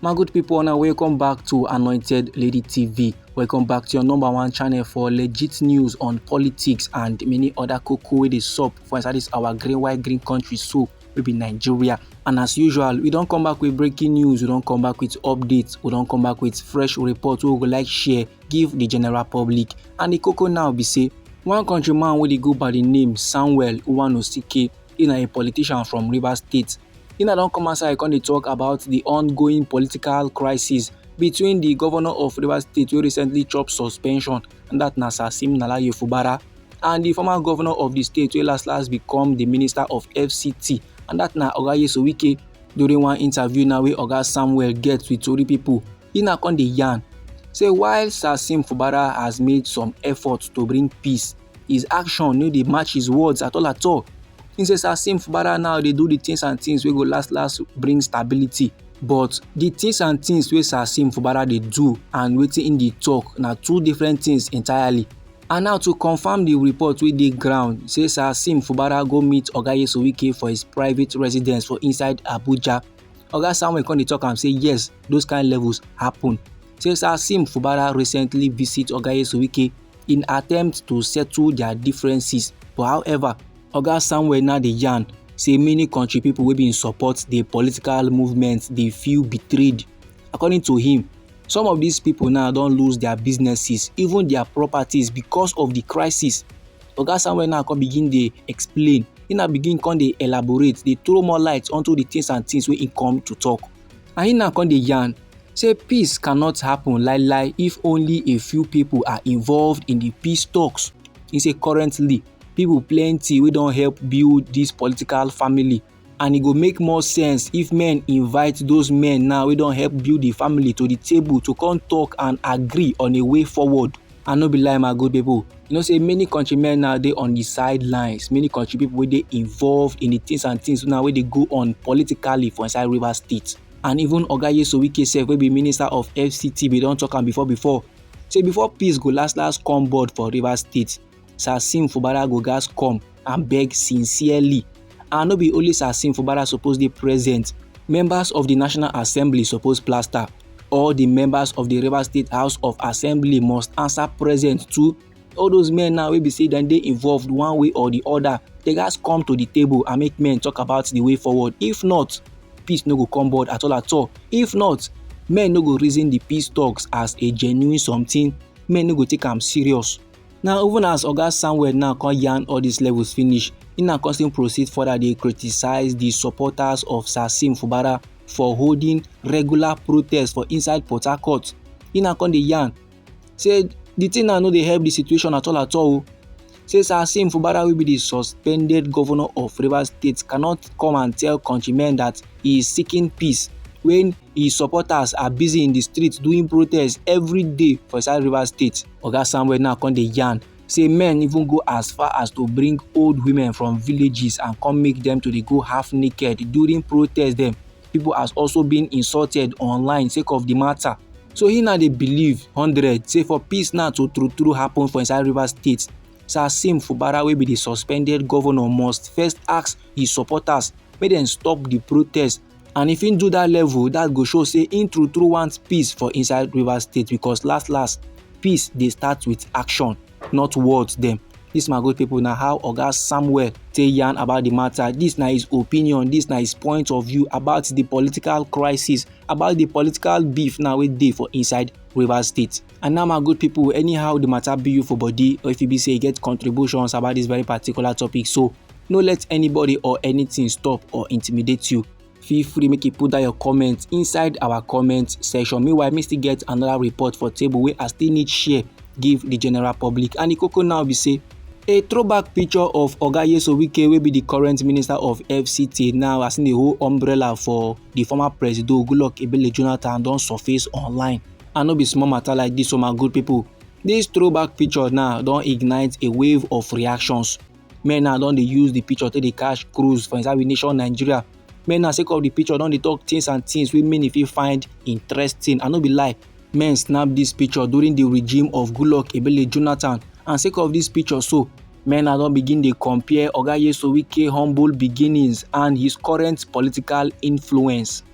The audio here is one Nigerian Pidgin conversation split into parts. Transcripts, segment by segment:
my good people una welcome back to anointed lady tv welcome back to your number one channel for legit news on politics and many other koko wey dey sup for inside this our green white green country so we be nigeria and as usual we don come back with breaking news we don come back with updates we don come back with fresh report wey we go like share give the general public and the koko now be say one countryman wey dey go by the name samuel uwanosike He na a politician from Rivers State. He na don come outside come dey talk about the ongoing political crisis between the governor of Rivers State wey recently chop suspension and that na Sasim Nalaye Fubara and the former governor of the state wey last last become the minister of FCT and that na Oga Yeso Wike during one interview now wey Oga Samuel get with Tori people. He na come dey yarn say while Sasim Fubara has made some efforts to bring peace His action no dey match his words at all at all. He says as Sim Fubara now dey do the things and things wey go last last bring stability. But the things and things wey Sir Sim Fubara dey do and wetin he dey talk na two different things entirely. And now to confirm the report wey dey ground say Sir Sim Fubara go meet Oga Yesowike for his private residence for inside Abuja. Oga Samuel come dey talk am say yes, those kind levels happen. Say Sir Sim Fubara recently visit Oga Yesowike in attempt to settle their differences but however oga samuel now dey yarn say many country people wey bin support the political movement dey feel betrayed according to him some of these people now don lose their businesses even their properties because of the crisis oga samuel now come begin dey explain he now begin come dey elaborate dey throw more light onto the things and things wey he come to talk And he now come dey yarn say peace cannot happen lie lie if only a few people are involved in the peace talks. He say currently people plenty wey don help build this political family and e go make more sense if men invite those men now wey don help build the family to the table to come talk and agree on a way forward. I no be lie my good people. You know say many country men now dey on the sidelines. Many country people wey dey involved in the things and things now wey dey go on politically for inside River State. And even Oga Yeso Wike sef wey be minister of FCT bin don talk am before before say before peace go last last come board for River State, Sasim Fubara go gas come and beg sincerely and no be only Sasin Fubara suppose dey present members of the National Assembly suppose plaster all the members of the Rivers State House of Assembly must answer present too all those men now wey be say dem dey involved one way or the other they gats come to the table and make men talk about the way forward if not peace no go come board at all at all if not men no go reason the peace talks as a genuine something men no go take am serious Now even as Oga Samuel now come yarn all these levels finish, he now come still proceed further dey criticize the supporters of Sasim Fubara for holding regular protests for inside Port Harcourt. He now come dey yarn say the thing now no dey help the situation at all at all oh. Say Sasim Fubara will be the suspended governor of Rivers State cannot come and tell countrymen that he is seeking peace when his supporters are busy in the streets doing protests every day for inside Rivers State. Oga Samuel now come dey yarn say men even go as far as to bring old women from villages and come make them to dey go half naked during protest dem. People has also been insulted online sake of the matter. So he now dey believe hundred say for peace now to true true happen for inside Rivers State, Sir Sim Fubara wey be the suspended governor must first ask his supporters make dem stop the protest and if him do that level that go show say him true true want peace for inside rivers state because last last peace dey start with action not words dem this my good people na how oga samuel take yarn about the matter this na his opinion this na his point of view about the political crisis about the political beef now wey dey for inside rivers state And now my good people, anyhow the matter be you for body or if you be say you get contributions about this very particular topic, so no let anybody or anything stop or intimidate you. Feel free make you put down your comment inside our comment section. Meanwhile, me still get another report for table where I still need share give the general public. And the cocoa now be say a throwback picture of oga yeso wike wey be di current minister of fct now as im dey hold umbrella for di former presido goodluck ebele jonathan don surface online And no be small matter like this o my good people. This throwback picture now don ignite a wave of reactions. Men now don dey use the picture take dey cash cruise for inside we nation Nigeria. Men now sake of the picture don dey talk things and things wey many fit find interesting. I no be lie, men snap this picture during the regime of Goodluck Ebele Jonathan and sake of this picture so, men now don begin dey compare Oga Yeso Wike humble beginnings and his current political influence.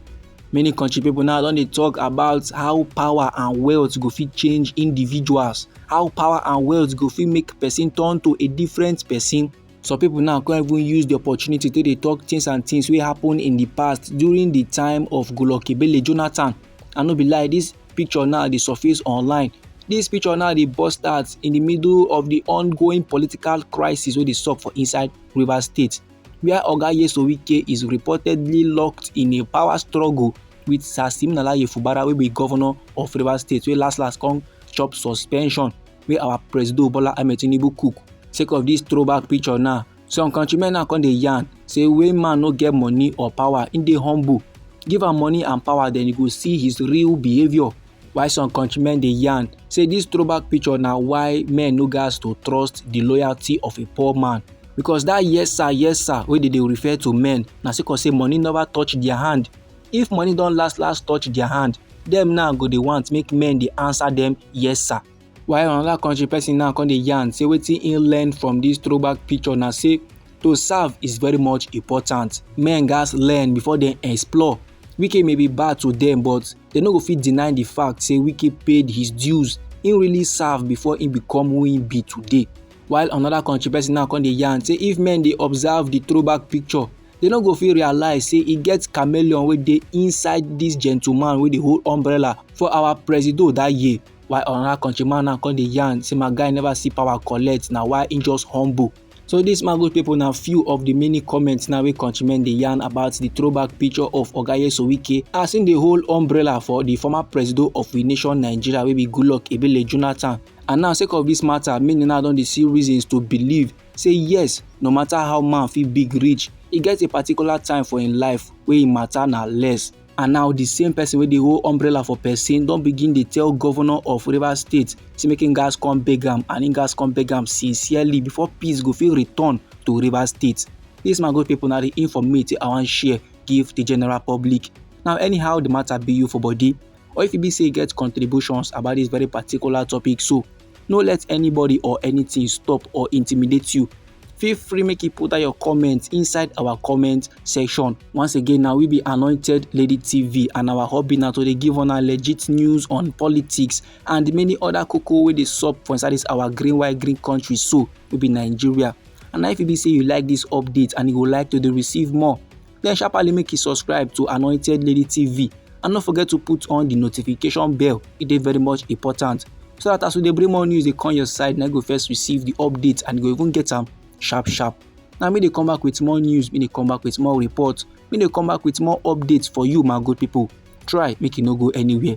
Many country people now don dey talk about how power and wealth go fit change individuals, how power and wealth go fit make person turn to a different person. Some people now come even use the opportunity to dey talk things and things wey happen in the past during the time of Golokebele Jonathan. I no be lie, this picture now dey surface online. This picture now dey burst out in the middle of the ongoing political crisis wey dey sup for inside Rivers State. wia oga nyesom wike is reportedly locked in a power struggle wit sir siminalayi fubara wey be govnor of rivers state wey last last come chop suspension wey our presido bola ahmed tinubu cook sake of dis throwback picture now some countrymen now come dey yarn say when man no get money or power im dey humble give am money and power then you go see his real behaviour Why some countrymen dey yarn say this throwback picture na why men no gas to trust the loyalty of a poor man because that yes sir yes sir wey dey dey refer to men na sake of say money never touch their hand if money don last last touch their hand dem now go dey want make men dey answer them yes sir while another country person now come dey yarn say wetin he learn from this throwback picture na say to serve is very much important men gas learn before dem explore wike may be bad to them but They no go fit deny the fact say Wike paid his dues, he really serve before he become who he be today. While another country person now come dey yarn say if men dey observe the throwback picture, they no go fit realize say e get chameleon wey dey inside this gentleman wey dey hold umbrella for our presido that year. While another countryman now come dey yarn say my guy never see power collect na why he just humble. So dis man good people na few of the many comments now wey countrymen dey yarn about the throwback picture of Oga Nyesom Wike as im dey hold umbrella for the former presido of the nation Nigeria wey be Goodluck Ebele Jonathan. And now sake of this matter, many now don dey see reasons to believe say yes, no matter how man fit big reach, e get a particular time for im life wey im matter na less. and now di same person wey dey hold umbrella for person don begin dey tell governor of rivers state say make im gas come beg am and im gas come beg am sincerely before peace go fit return to rivers state dis my good people na di informate i wan share give di general public now anyhow di matter be you for body or if e be say you get contributions about dis very particular topic so no let anybody or anything stop or intimidate you feel free make you put out your comment inside our comment section once again now we be anointed lady tv and our hobby now to dey give on our legit news on politics and many other cocoa wey dey sup for inside this our green white green country so we be nigeria and if you be say you like this update and you would like to receive more then sharply make you subscribe to anointed lady tv and no forget to put on the notification bell e dey very much important so that as we dey bring more news dey come your side na go first receive the update and go even get am sharp sharp na me dey come back with more news me dey come back with more report me dey come back with more updates for you my good people try make you no go anywhere